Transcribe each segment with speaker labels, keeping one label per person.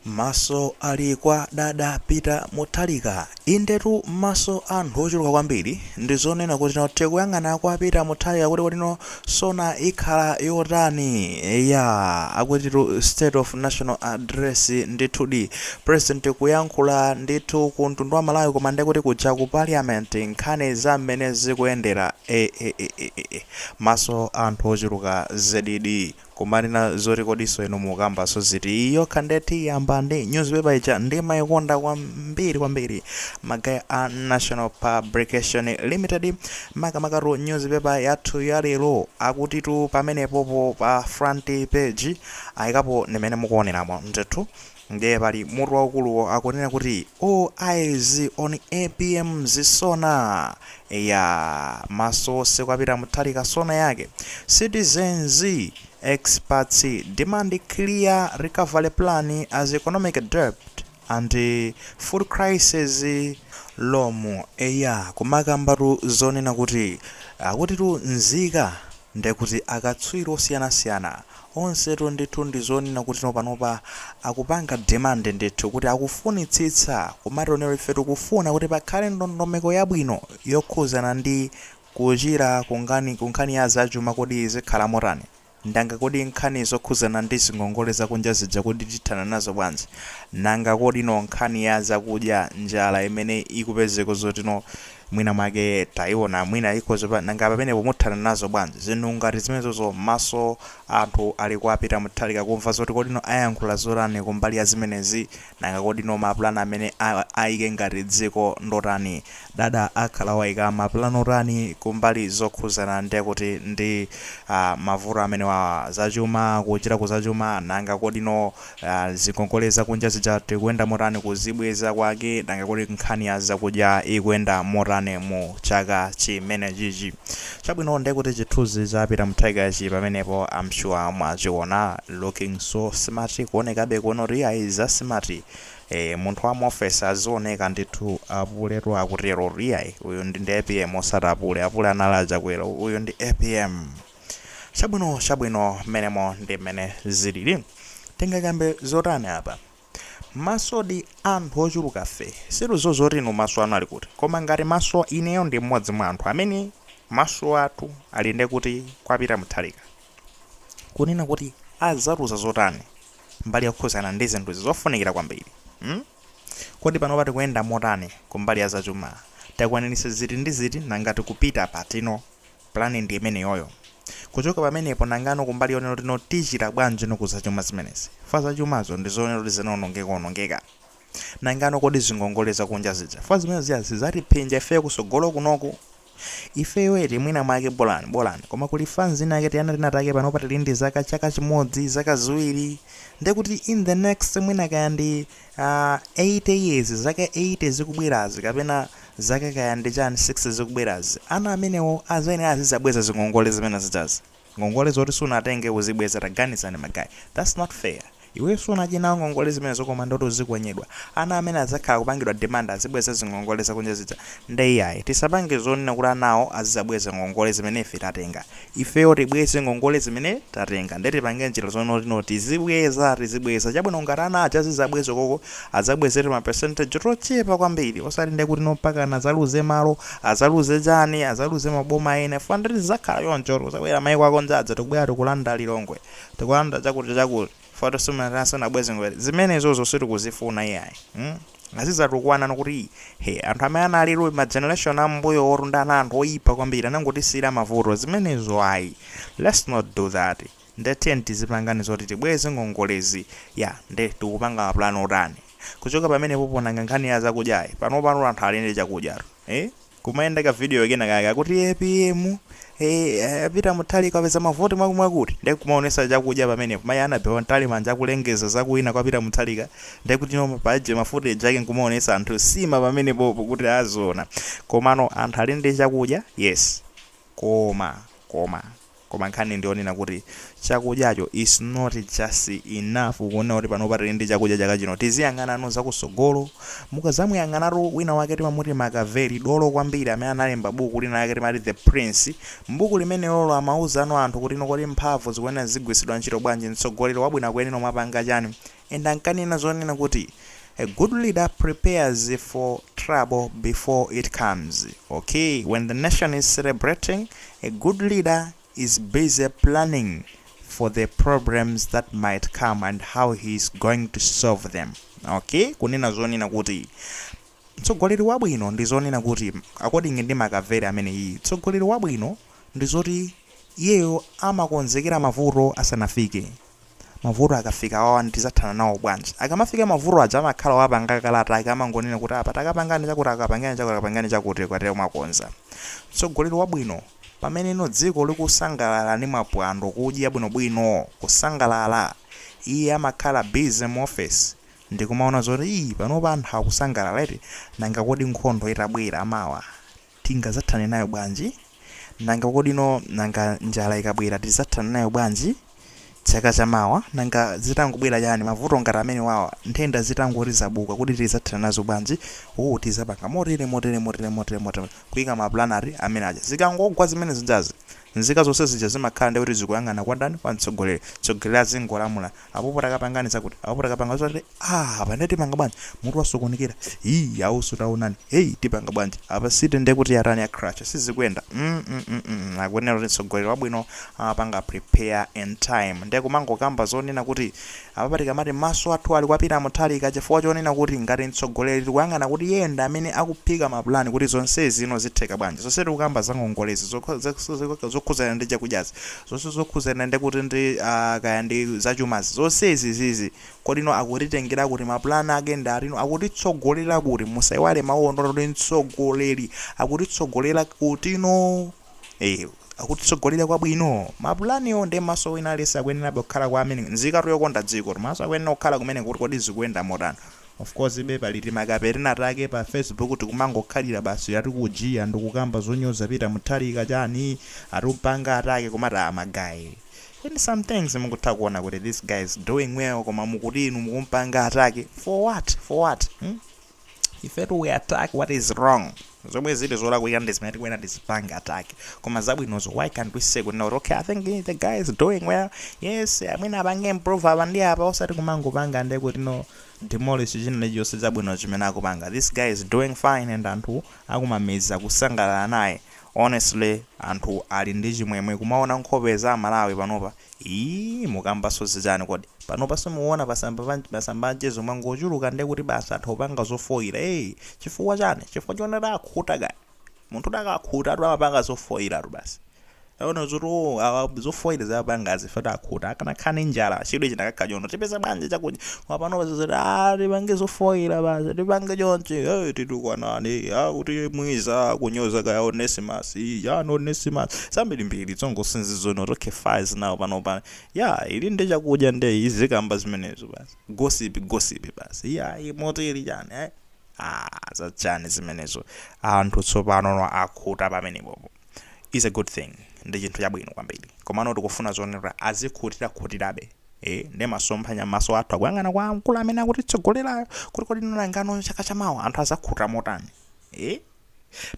Speaker 1: Maso ali kwa dada Peter Muthalika. Indetu maso a anthu ochuluka kwambiri ndi zonena kuti no tikuyang'ana kwa Peter Muthalika kuti kuti no sona ikhala yotani. Eya, akutitu State of Nation Address ndithudi. President kuyankhula ndithu ku mtundu wa Malawi koma nde kuti kuja ku Parliament nkhani za mmene zikuyendera. E, e, e, e, e, e. Maso a anthu ochuluka zedidi. Koma nena zoti kodiso inu mukambaso ziti iyi yokha ndithu tiyamba ndi newspaper ija ndimaikonda kwambiri kwambiri magaya a Nation Publications Limited makamakatu newspaper yathu ya lero akutitu pamenepopo pa front page ayikapo ndi mmene mukuoneramo ndithu Ndiye pali mutu waukuluwo akunena kuti all eyes on APM's SONA. Eyaa maso onse kwa Peter Mutharika sona yake. Citizens, experts demand clear recovery plan as economic debt and food crises loom. Eyaa kumakambatu zonena kuti akutitu nzika ndekuti akatswiri osiyanasiyana Onsetu ndithu ndi zonena kuti no panopa akupanga demand ndithu kuti akufunitsitsa kumati no ife tikufuna kuti pakhale ndondomeko yabwino yokhuzana ndi kuchira ku nkhani ku nkhani ya zachuma kodi zikhala motani? Nanga kodi nkhani zokhuzana ndi zingongole zakunja zija kodi tithana nazo bwanji? Nanga kodi no nkhani ya zakudya njala imene ikupezeko zoti no Mwina mwake taiona mwina ikhoza pa, nanga pamenepo muthana nazo bwanji zinthu ngati zimenezozo maso a anthu ali kwa Peter Muthalika kumva zoti kodino ayankhula zotani kumbali ya zimenezi nanga kodino ma plan amene a, aike ngati dziko ndi otani dada akhala waika ma plan otani kumbali zokhuzana nde kuti ndi ah, mavuto amenewawa zachuma kuchira ku zachuma nanga kodino Aaa zingongole zakunja zija tikuyenda motani kuzibweza kwake nanga kodi nkhani ya zakudya ikuyenda motani mu chaka chimenechichi chabwino nde kuti chithuzi cha Peter Mutharika chili pamenepo am sure mwachiona looking so smart kuonekabe kuona kuti iyayi za smart ee munthu wa mu office azioneka ndithu apuleyo akutero kuti iyayi uyu ndi ndi apm osati apule apule anali a Chakwera uyu ndi apm Chabwino, chabwino, mmenemo ndi mmene ziliri. Tingakambe zotani apa? Masodi, anthu ochulukafe sitikudziwa zoti inu maso anu ali kuti. Koma ngati maso, ineyo ndi mmodzi mwa anthu amene maso athu ali ndiye kuti kwa Peter Mutharika. Kunena kuti adzatiuza zotani kumbali yokhudzana ndi zinthu izi zofunikira kwambiri. Hmm? Kodi panopa tikuyenda motani kumbali ya zachuma? Takwaniritsa ziti ndi ziti nanga tikupita patino? Plan ndi imeneyoyo. Kuchoka pamenepo nanga no kumbali yonena kuti no tichita bwanji no ku zachuma zimenezi? Fwa zachumazo ndi zonena kuti zinaonongeka onongeka. Nanga no kodi zingongole za kunja zija, fwa zimene zija zizatiphinja ifeyo kusogolo kunoku? Ifeyo eti mwina mwake bolani, bolani, koma kuli fans inayake tiana tina take panopa tili ndi zaka, chaka chimodzi, zaka ziwiri, ndekuti in the next mwina kaya ndi Aaa 80 years zaka 80 zikubwerazi kapena zaka kaya ndi chani 60 zikubwerazi ana amenewo azayenera azizabweza zingongole zimene zijazi ngongole zoti sunatenge uzibweza taganizani ma guy that's not fair iweyo sunadye nawo ngongole zimenezo koma ndi woti uzinamenyedwa ana amene azakhala kupangidwa demand azibweza ngongole zakunja zija nde iyayi tisapange zonena kuti anawo azizabweza ngongole zimene ife tatenga ifeyo tibweze ngongole zimene tatenga nde tipange njira zoti no tizibweza tizibweza chabwino ngati ana aja azizabwezako azabweze timapercentage tochepa kwambiri osati nde kuti nompakana azaluze malo azaluze chani azaluze maboma ena chifukwa nde zizakhala choncho kuti azabwera maiko akunja aja tikubwera tikulanda lilongwe tikulanda chakuti chakuti Fwa simunabweze ngongole zimenezozo sitikuzifuna iyayi mm? azizatukwana no kuti he anthu amene analiko ma generation ambuyo ndi anthu oyipa kwambiri anangotisiyira mavuto zimenezo ayi let's not do that nde tiyeni tizipanga no zoti tibweze ngongolezi ya nde tikupanga mapulani otani kuchoka pamenepo po nanga nkhani ya zakudyayi, panopa anthu ali ndi chakudyatu eh? kumayenda ka video kena kake akuti apm eh, a Peter Mutharika apeza mavoti mwakumwakuti ndiye kumaonesa chakudya pamenepo mayi Annabel Mtalimanja akulengeza zakuwina kwa Peter Mutharika ndiye kuti no paje ma footage ake nkumaonesa anthu sima pamenepopo kuti aziona komano anthu ali ndi chakudya yes koma koma Koma nkhani ndiyonena kuti chakudyacho is not just enough kunena kuti panopa tili ndi chakudya chaka chino tiziyang'ana no zakusogolo mukazamuyang'anatu wina wake timamuti Makaveli dolo kwambiri amene analemba buku lina lake timati the prince mbuku limenelolo amauza no anthu kuti no kodi mphamvu zikuyenera zizigwiritsidwa ntchito bwanji mtsogoleri wabwino akuyenera kumapanga chani And ankanena zonena kuti A good leader prepares for trouble before it comes, okay, when the nation is celebrating, a good leader is busy planning for the problems that might come and how he is going to solve them, okay, kunena zonena kuti mtsogoleri wabwino ndi zonena kuti according ndi Makaveli ameneyi mtsogoleri wabwino ndi zoti iyeyo amakonzekera mavuto asanafike Mavuto akafika awawa tizathana nawo bwanji? Akamafika mavuto aja amakhala wapanga kale zake amangonena kuti apa takapangeni chakuti akapangeni chakuti akapangeni chakuti ukatero mwakonza. Mtsogoleri wabwino pamene no dziko likusangalala ndi mapwando kudya bwinobwino kusangalala iye amakhala busy mu office ndikumaona zoti iih panopa anthu akusangalala eti nanga kodi nkhondo itabwera mawa tingazathane nayo bwanji? Nanga kodi no, nanga njala ikabwera tizathana nayo bwanji chaka cha mawa? Nanga zitangobwera chani, mavuto ngati amenewawa, nthenda zitangoti zabuka,, kodi tizathana nazo bwanji? Ooh tizapanga motere, motere, motere, motere, motere, kuika ma plan ngati amene aja. Zikangogwa zimene zijazi, nzika zonse zija zimakhala ndiye kuti zikuyang'ana kwa ndani, kwa mtsogoleri. Mtsogoleri azingolamula. Apopo takapangani zakuti apopo takapangani zoti aah apa nde tipanga bwanji mutu wasokonekera hii guys taonani hey tipanga bwanji apa city nde kuti yatani ya crash sizikuenda mukuona eti kuti mtsogoleri wabwino amapanga prepare in time nde kumangokamba zonena kuti apapa tikamati maso athu ali kwa Peter Mutharika chifukwa chonena kuti ngati mtsogoleri tikuyang'ana kuti yeye ndi amene akuphika mapulani kuti zonsezi zino zitheka bwanji zonse tikukamba zangongolezi zokho- zokh- zokhudzana ndi chakudyazi zonse zokhuzana ndi kuti ndi a kaya ndi zachumazi zonse izi izizi kodino akutitengera kuti ma plan ake ndi otani akutitsogolera kuti musaiwale mauwo ndi oti mtsogoleri akutitsogolera kutino ee akutitsogolera kwabwino ma planiwo nde maso wina aliyense akuyenerabe kukhala kwa, amene nzikatu yokonda dziko komanso akuyenera kukhala kumeneko kuti kodi zikuyenda motani Of course be pali timakape tinatake pa facebook tikumangokhalira basi ati kujiya, ndikukamba zonyoza Peter Muthalika chani ati kumpanga attack koma ah ma guys in some things mukutha kuona kuti this guy is doing well koma inu mukumpanga attack for what for what hmm? ifetu we attack what is wrong zomwe zili zolakwika ndi zimene tikuyenera tizipange attack koma zabwinozo why can't we say kuti okay i think eh, the guy is doing well yes amene apange improve apa ndi apa osati kumangopanga ndi kuti no demolish china chilichonse chabwino chimene akupanga. This guy is doing fine and anthu akumamizi akusangalala naye. Honestly anthu ali ndi chimwemwe kumaona nkhope za amalawi panopa. Iii mukambanso zichani kodi? Panopa simukuona pa sa- pa masamba anchezo mwangochuluka ndekuti basi anthu akupanga zofoira ee chifukwa chani? Chifukwa choona takhuta guys? Munthu akakhutatu amapanga zofoyilatu basi. Aona zoti oo awa zofoyila akupangazi ife takhuta. Akanakhala ndi njala chidwi chinakakhala choti. Tipeza bwanji chakudya? Koma panopa ndi zoti aah tipange zofoyila basi tipange chonchi hee titukwanane akuti Mwiza akunyoza kaya Onesimus chani Onesimus zambirimbiri tsongo since zono okay fans now panopa yeah ili ndi chakudya nde izikamba zimenezo basi gossip gossip basi iyayi motili chani ayi. Ah, zachani zimenezo. Anthu tsopanono akhuta pamenepopo. Is a good thing. Ndi chinthu chabwino kwambiri. Komano tikufuna zonena kuti azikhutirakhutirabe. Eh, ndi masomphenya maso athu akuyang'ana kwa mkulu amene akutitsogolerayo kuti kodi nangano chaka chamawa anthu azakhuta motani. Eh?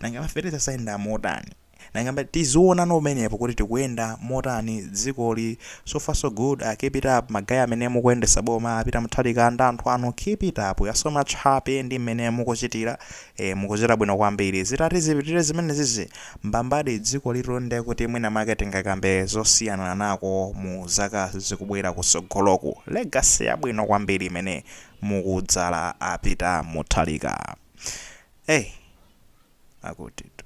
Speaker 1: Nanga ma fertilizer zayenda motani. Nanga ngati tiziwonano pamenepo kuti tikuyenda motani dzikoli so far so good keep it up ma guy amene mukuyendesa boma a Peter Mutharika ndi anthu anu keep it up we are so much happy ndi mmene mukuchitira ee mukuchita bwino kwambiri zitati zipitire zimenezizi mbambadi dzikolitu nde kuti mwina mwake tingakambe zosiyananako mu zaka zikubwera kutsogoloku legacy yabwino kwambiri imene mukudzala a Peter Mutharika ee akutitu.